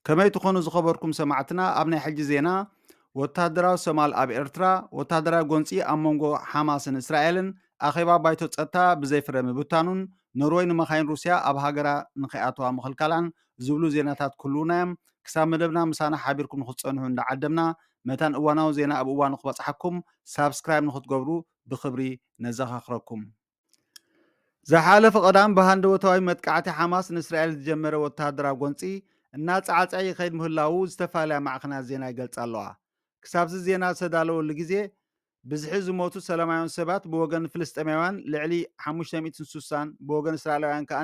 ከመይ ትኾኑ ዝኸበርኩም ሰማዕትና ኣብ ናይ ሕጂ ዜና ወተሃደራዊ ሰማል ኣብ ኤርትራ ወተሃደራዊ ጎንፂ ኣብ መንጎ ሓማስን እስራኤልን ኣኼባ ባይቶ ፀጥታ ብዘይፍረ ምብታኑን ኖርወይ ንመኻይን ሩስያ ኣብ ሃገራ ንኸይኣተዋ ምኽልካላን ዝብሉ ዜናታት ክህልዉና'ዮም። ክሳብ መደብና ምሳና ሓቢርኩም ንኽትጸንሑ እንዳዓደምና፣ መታን እዋናዊ ዜና ኣብ እዋኑ ክበጽሓኩም ሳብስክራይብ ንኽትገብሩ ብኽብሪ ነዘኻኽረኩም። ዝሓለፈ ቀዳም ብሃንደበታዊ መጥቃዕቲ ሓማስ ንእስራኤል ዝጀመረ ወተሃደራዊ ጎንጺ እናጸዓጸዐ ይኸይድ ምህላዉ ዝተፋላለያ ማዕኸናት ዜና ይገልጻ ኣለዋ። ክሳብ'ዚ ዜና ዝተዳለወሉ ግዜ ብዝሒ ዝሞቱ ሰላማውያን ሰባት ብወገን ፍልስጤማውያን ልዕሊ ሓሙሽተ ሚእትን ሱሳን ብወገን እስራኤላውያን ከኣ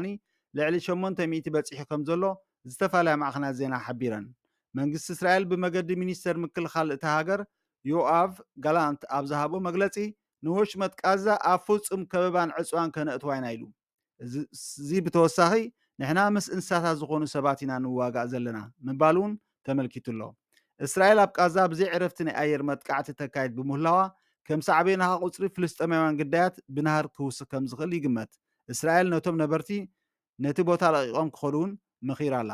ልዕሊ ሸሞንተ ሚእቲ በጺሑ ከምዘሎ ዝተፋለያ ማዕኸናት ዜና ሓቢረን። መንግስቲ እስራኤል ብመገዲ ሚኒስተር ምክልኻል እታ ሃገር ዮኣቭ ጋላንት ኣብ ዝሃቦ መግለጺ ንወሽመጥ ቃዛ ኣብ ፍጹም ከበባን ዕጽዋን ከነእትዋ ኢና ኢሉ። እዚ ብተወሳኺ ንሕና ምስ እንስሳታት ዝኾኑ ሰባት ኢና ንዋጋእ ዘለና ምባል እውን ተመልኪቱ ኣሎ። እስራኤል ኣብ ቃዛ ብዘይ ዕረፍቲ ናይ ኣየር መጥቃዕቲ ተካይድ ብምህላዋ ከም ሳዕቤናኻ ቁጽሪ ፍልስጤማውያን ግዳያት ብናህሪ ክውስኽ ከም ዝኽእል ይግመት። እስራኤል ነቶም ነበርቲ ነቲ ቦታ ለቒቖም ክኸዱ እውን መኺራ ኣላ።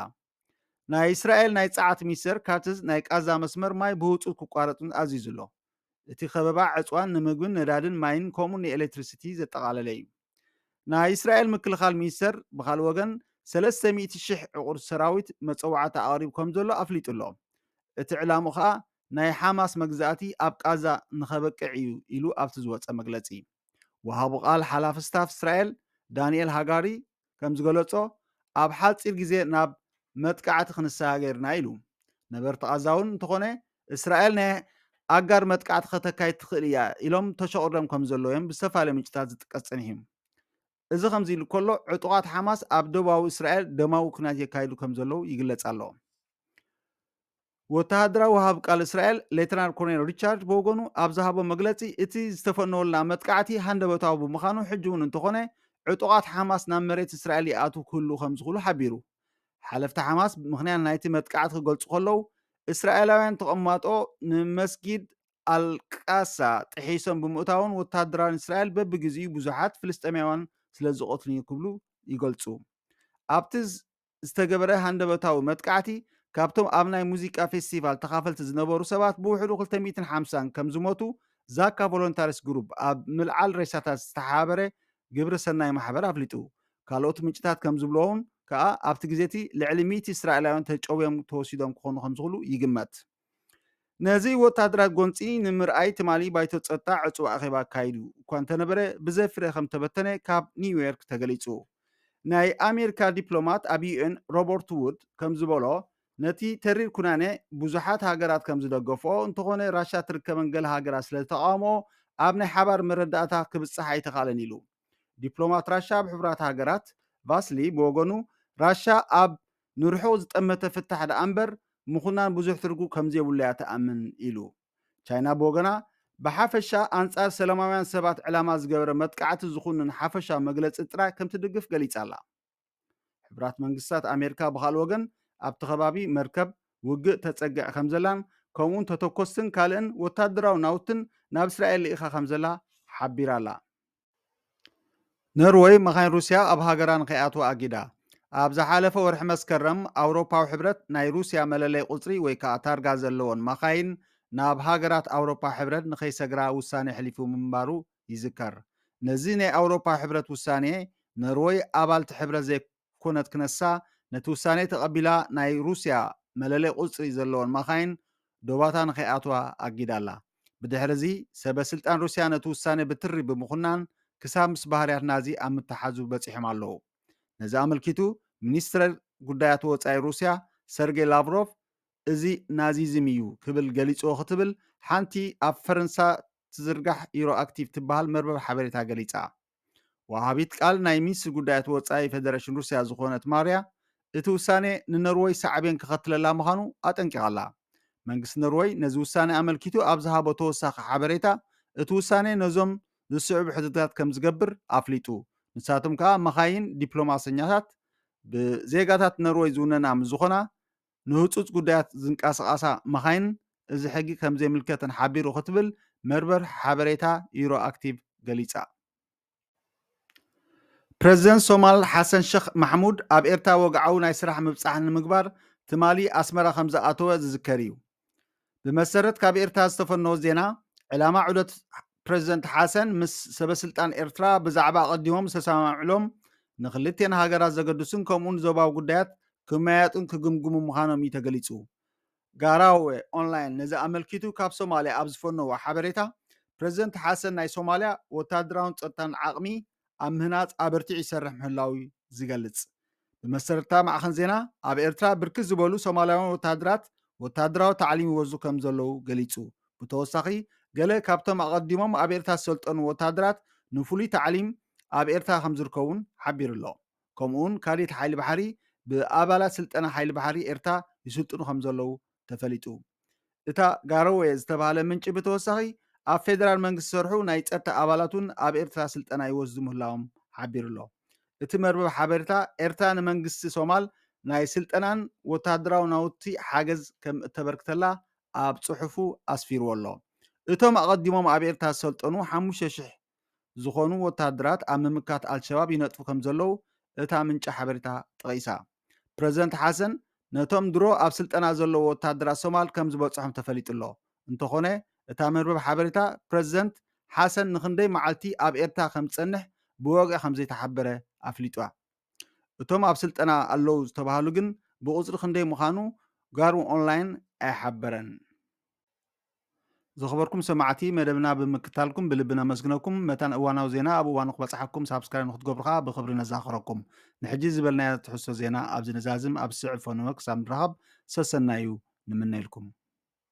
ናይ እስራኤል ናይ ጸዓት ሚኒስተር ካትዝ ናይ ቃዛ መስመር ማይ ብህጹጽ ክቋረጽን ኣዚዙ ኣሎ። እቲ ከበባ ዕጽዋን ንምግብን ነዳድን ማይን ከምኡ ንኤሌክትሪሲቲ ዘጠቓለለ እዩ። ናይ እስራኤል ምክልኻል ሚኒስተር ብኻልእ ወገን ሰለስተ ሚእቲ ሽሕ ዕቑር ሰራዊት መጸዋዕታ ኣቕሪቡ ከም ዘሎ ኣፍሊጡ ኣሎ። እቲ ዕላምኡ ከኣ ናይ ሓማስ መግዛእቲ ኣብ ቃዛ ንኸበቅዕ እዩ ኢሉ ኣብቲ ዝወጸ መግለጺ። ወሃቡ ቃል ሓላፊ ስታፍ እስራኤል ዳንኤል ሃጋሪ ከምዝገለጾ ኣብ ሓጺር ግዜ ናብ መጥቃዕቲ ክንሰጋገርና ኢሉ። ነበርቲ ቓዛ'ውን እንተኾነ እስራኤል ናይ ኣጋር መጥቃዕቲ ከተካይድ ትኽእል እያ ኢሎም ተሸቑርዶም ከምዘለዉ'ዮም ብዝተፈላለዩ ምንጭታት ዝጥቀስ ጸኒሑ። እዚ ከምዚ ኢሉ ከሎ ዕጡቓት ሓማስ ኣብ ደቡባዊ እስራኤል ደማዊ ኲናት የካይዱ ከምዘለዉ ይግለጽ ኣሎ። ወተሃደራዊ ወሃብ ቃል እስራኤል ሌተናል ኮሎኔል ሪቻርድ ብወገኑ ኣብ ዝሃቦ መግለጺ እቲ ዝተፈነወልና መጥቃዕቲ ሃንደበታዊ ብምዃኑ ሕጂ እውን እንተኾነ ዕጡቓት ሓማስ ናብ መሬት እስራኤል ይኣትው ክህልው ከምዝኽእሉ ሓቢሩ። ሓለፍቲ ሓማስ ምኽንያት ናይቲ መጥቃዕቲ ክገልጹ ከለው እስራኤላውያን ተቐማጦ ንመስጊድ ኣልቃሳ ጥሒሶም ብምእታውን ወተሃደራውያን እስራኤል በብግዜኡ ብዙሓት ፍልስጤማውያን ስለዝቐትሉን ክብሉ ይገልጹ። ኣብቲ ዝተገበረ ሃንደበታዊ መጥቃዕቲ፣ ካብቶም ኣብ ናይ ሙዚቃ ፌስቲቫል ተኻፈልቲ ዝነበሩ ሰባት ብውሕዱ ክልተ ሚእትን ሓምሳን ከም ዝሞቱ ዛካ ቮሎንታሪስ ግሩፕ ኣብ ምልዓል ሬሳታት ዝተሓባበረ ግብረ ሰናይ ማሕበር ኣፍሊጡ። ካልኦት ምንጭታት ከም ዝብልዎውን ከኣ ኣብቲ ግዜ'ቲ ልዕሊ ሚእቲ እስራኤላውያን ተጨውዮም ተወሲዶም ክኾኑ ከም ዝኽሉ ይግመት። ነዚ ወተሃደራዊ ጎንጺ ንምርኣይ ትማሊ ባይቶ ጸጥታ ዕጹው ኣኼባ ኣካይዱ እኳ እንተነበረ ብዘይፍረ ከም ተበተነ ካብ ኒውዮርክ ተገሊጹ። ናይ ኣሜሪካ ዲፕሎማት ኣብ ዩኤን ሮበርት ውድ ከም ዝበሎ ነቲ ተሪር ኩናኔ ብዙሓት ሃገራት ከም ዝደገፍኦ እንተኾነ ራሻ ትርከበን ገለ ሃገራት ስለ ዝተቓወምኦ ኣብ ናይ ሓባር መረዳእታ ክብጻሕ ኣይተኻእለን ኢሉ። ዲፕሎማት ራሻ ኣብ ሕቡራት ሃገራት ቫስሊ ብወገኑ ራሻ ኣብ ንርሑቕ ዝጠመተ ፍታሕ ደኣ እምበር ምኹናን ብዙሕ ትርጉ ከምዘይብሉ'ያ ትኣምን ኢሉ። ቻይና ብወገና፣ ብሓፈሻ ኣንጻር ሰላማውያን ሰባት ዕላማ ዝገበረ መጥቃዕቲ ዝኹንን ሓፈሻዊ መግለጺ ጥራይ ከምትድግፍ ገሊጻ'ላ። ሕቡራት መንግስታት ኣሜሪካ ብኻልእ ወገን፣ ኣብቲ ከባቢ መርከብ ውግእ ተጸግዕ ከምዘላን ከምኡ'ውን ተተኮስትን ካልእን ወተሃደራዊ ናውትን ናብ እስራኤል ልኢኻ ከምዘላ ሓቢራ'ላ። ኖርወይ መኻይን ሩስያ ኣብ ሃገራ ንከይኣትዋ ኣጊዳ። ኣብ ዝሓለፈ ወርሒ መስከረም፣ ኣውሮፓዊ ሕብረት ናይ ሩስያ መለለይ ቁጽሪ ወይ ከኣ ታርጋ ዘለወን መኻይን ናብ ሃገራት ኣውሮፓ ሕብረት ንከይሰግራ ውሳኔ ኣሕሊፉ ምንባሩ ይዝከር። ነዚ ናይ ኣውሮፓ ሕብረት ውሳኔ፣ ኖርወይ ኣባል'ቲ ሕብረት ኮነት ክነሳ ነቲ ውሳኔ ተቐቢላ ናይ ሩስያ መለለይ ቁጽሪ ዘለወን ማካይን ዶባታ ንከይኣትዋ ኣጊዳ ኣላ። ብድሕሪ እዚ ሰበ ስልጣን ሩስያ ነቲ ውሳኔ ብትሪ ብምኹናን ክሳብ ምስ ባህርያት ናዚ ኣብ ምትሓዙ በጺሖም ኣለዉ። ነዚ ኣመልኪቱ ሚኒስትር ጉዳያት ወጻኢ ሩስያ ሰርጌ ላቭሮቭ እዚ ናዚዝም እዩ ክብል ገሊጽዎ ክትብል ሓንቲ ኣብ ፈረንሳ ትዝርጋሕ ዩሮኣክቲቭ ትበሃል መርበብ ሓበሬታ ገሊጻ። ወሃቢት ቃል ናይ ሚኒስትሪ ጉዳያት ወጻኢ ፈደረሽን ሩስያ ዝኾነት ማርያ፣ እቲ ውሳኔ ንኖርወይ ሳዕቤን ከኸትለላ ምዃኑ ኣጠንቂቓ'ላ። መንግስቲ ኖርወይ ነዚ ውሳኔ ኣመልኪቱ ኣብ ዝሃቦ ተወሳኺ ሓበሬታ፣ እቲ ውሳኔ ነዞም ዝስዕቡ ሕድግታት ከምዝገብር ኣፍሊጡ። ንሳቶም ከኣ መኻይን ዲፕሎማሰኛታት ብዜጋታት ኖርወይ ዝውነና ምስዝኾና፣ ንህጹጽ ጉዳያት ዝንቀሳቐሳ መኻይን እዚ ሕጊ ከምዘይምልከተን ሓቢሩ ክትብል መርበብ ሓበሬታ ዩሮኣክቲቭ ገሊጻ። ፕረዚደንት ሶማል ሓሰን ሸኽ ማሕሙድ ኣብ ኤርትራ ወግዓዊ ናይ ስራሕ ምብጻሕ ንምግባር ትማሊ ኣስመራ ከምዝኣተወ ዝዝከር እዩ። ብመሰረት ካብ ኤርትራ ዝተፈነወ ዜና፣ ዕላማ ዑደት ፕረዚደንት ሓሰን ምስ ሰበስልጣን ኤርትራ ብዛዕባ ኣቐዲሞም ዝተሰማምዕሎም ንክልቴን ሃገራት ዘገድሱን ከምኡውን ዞባዊ ጉዳያት ክመያየጡን ክግምግሙ ምዃኖም እዩ ተገሊጹ። ጋራወ ኦንላይን ነዚ ኣመልኪቱ ካብ ሶማልያ ኣብ ዝፈነዎ ሓበሬታ ፕረዚደንት ሓሰን ናይ ሶማልያ ወተሃደራውን ጸጥታን ዓቕሚ ኣብ ምህናጽ ኣበርቲዑ ይሰርሕ ምህላዉ ዝገልጽ። ብመሰረትታ ማዕኸን ዜና ኣብ ኤርትራ ብርክት ዝበሉ ሶማላውያን ወተሃደራት ወተሃደራዊ ታዕሊም ይወዙ ከምዘለዉ ገሊጹ። ብተወሳኺ ገለ ካብቶም ኣቐዲሞም ኣብ ኤርትራ ዝሰልጠኑ ወተሃደራት ንፍሉይ ታዕሊም ኣብ ኤርትራ ከምዝርከቡን ሓቢሩ'ሎ። ከምኡ'ውን ካዴት ሓይሊ ባሕሪ ብኣባላት ስልጠና ሓይሊ ባሕሪ ኤርትራ ይስልጥኑ ከምዘለዉ ተፈሊጡ። እታ ጋሮዌ ዝተባህለ ምንጪ ብተወሳኺ፣ ኣብ ፌደራል መንግስቲ ዝሰርሑ ናይ ጸጥታ ኣባላት'ውን ኣብ ኤርትራ ስልጠና ይወስዱ ምህላዎም ሓቢሩ'ሎ። እቲ መርበብ ሓበሬታ፣ ኤርትራ ንመንግስቲ ሶማል ናይ ስልጠናን ወተሃደራዊ ናውቲ ሓገዝ ከም እተበርክተላ ኣብ ጽሑፉ ኣስፊርዎ'ሎ። እቶም ኣቐዲሞም ኣብ ኤርትራ ዝሰልጠኑ ሓሙሽተ ሽሕ ዝኾኑ ወተሃደራት ኣብ ምምካት ኣልሸባብ ይነጥፉ ከምዘለዉ እታ ምንጪ ሓበሬታ ጠቒሳ። ፕረዚደንት ሓሰን ነቶም ድሮ ኣብ ስልጠና ዘለዉ ወተሃደራት ሶማል ከምዝበጽሖም ተፈሊጡ'ሎ። እንተኾነ እታ መርበብ ሓበሬታ ፕረዚደንት ሓሰን ንኽንደይ መዓልቲ ኣብ ኤርትራ ከምዝጸንሕ ብወግዒ ከምዘይተሓበረ ኣፍሊጣ። እቶም ኣብ ስልጠና ኣለዉ ዝተባህሉ ግን ብቑጽሪ ክንደይ ምዃኑ ጋርኦንላይን ኣይሓበረን። ዝኸበርኩም ሰማዕቲ መደብና ብምክታልኩም ብልቢ ነመስግነኩም መታን እዋናዊ ዜና ኣብ እዋኑ ክበፅሓኩም ሳብስክራይብ ንክትገብሩ ከዓ ብክብሪ ነዛኸረኩም ንሕጂ ዝበልናዮ ትሕዝቶ ዜና ኣብዚ ንዛዝም ኣብ ዝስዕብ ፎኖ ክሳብ ንራኸብ ሰሰናዩ ንምነየልኩም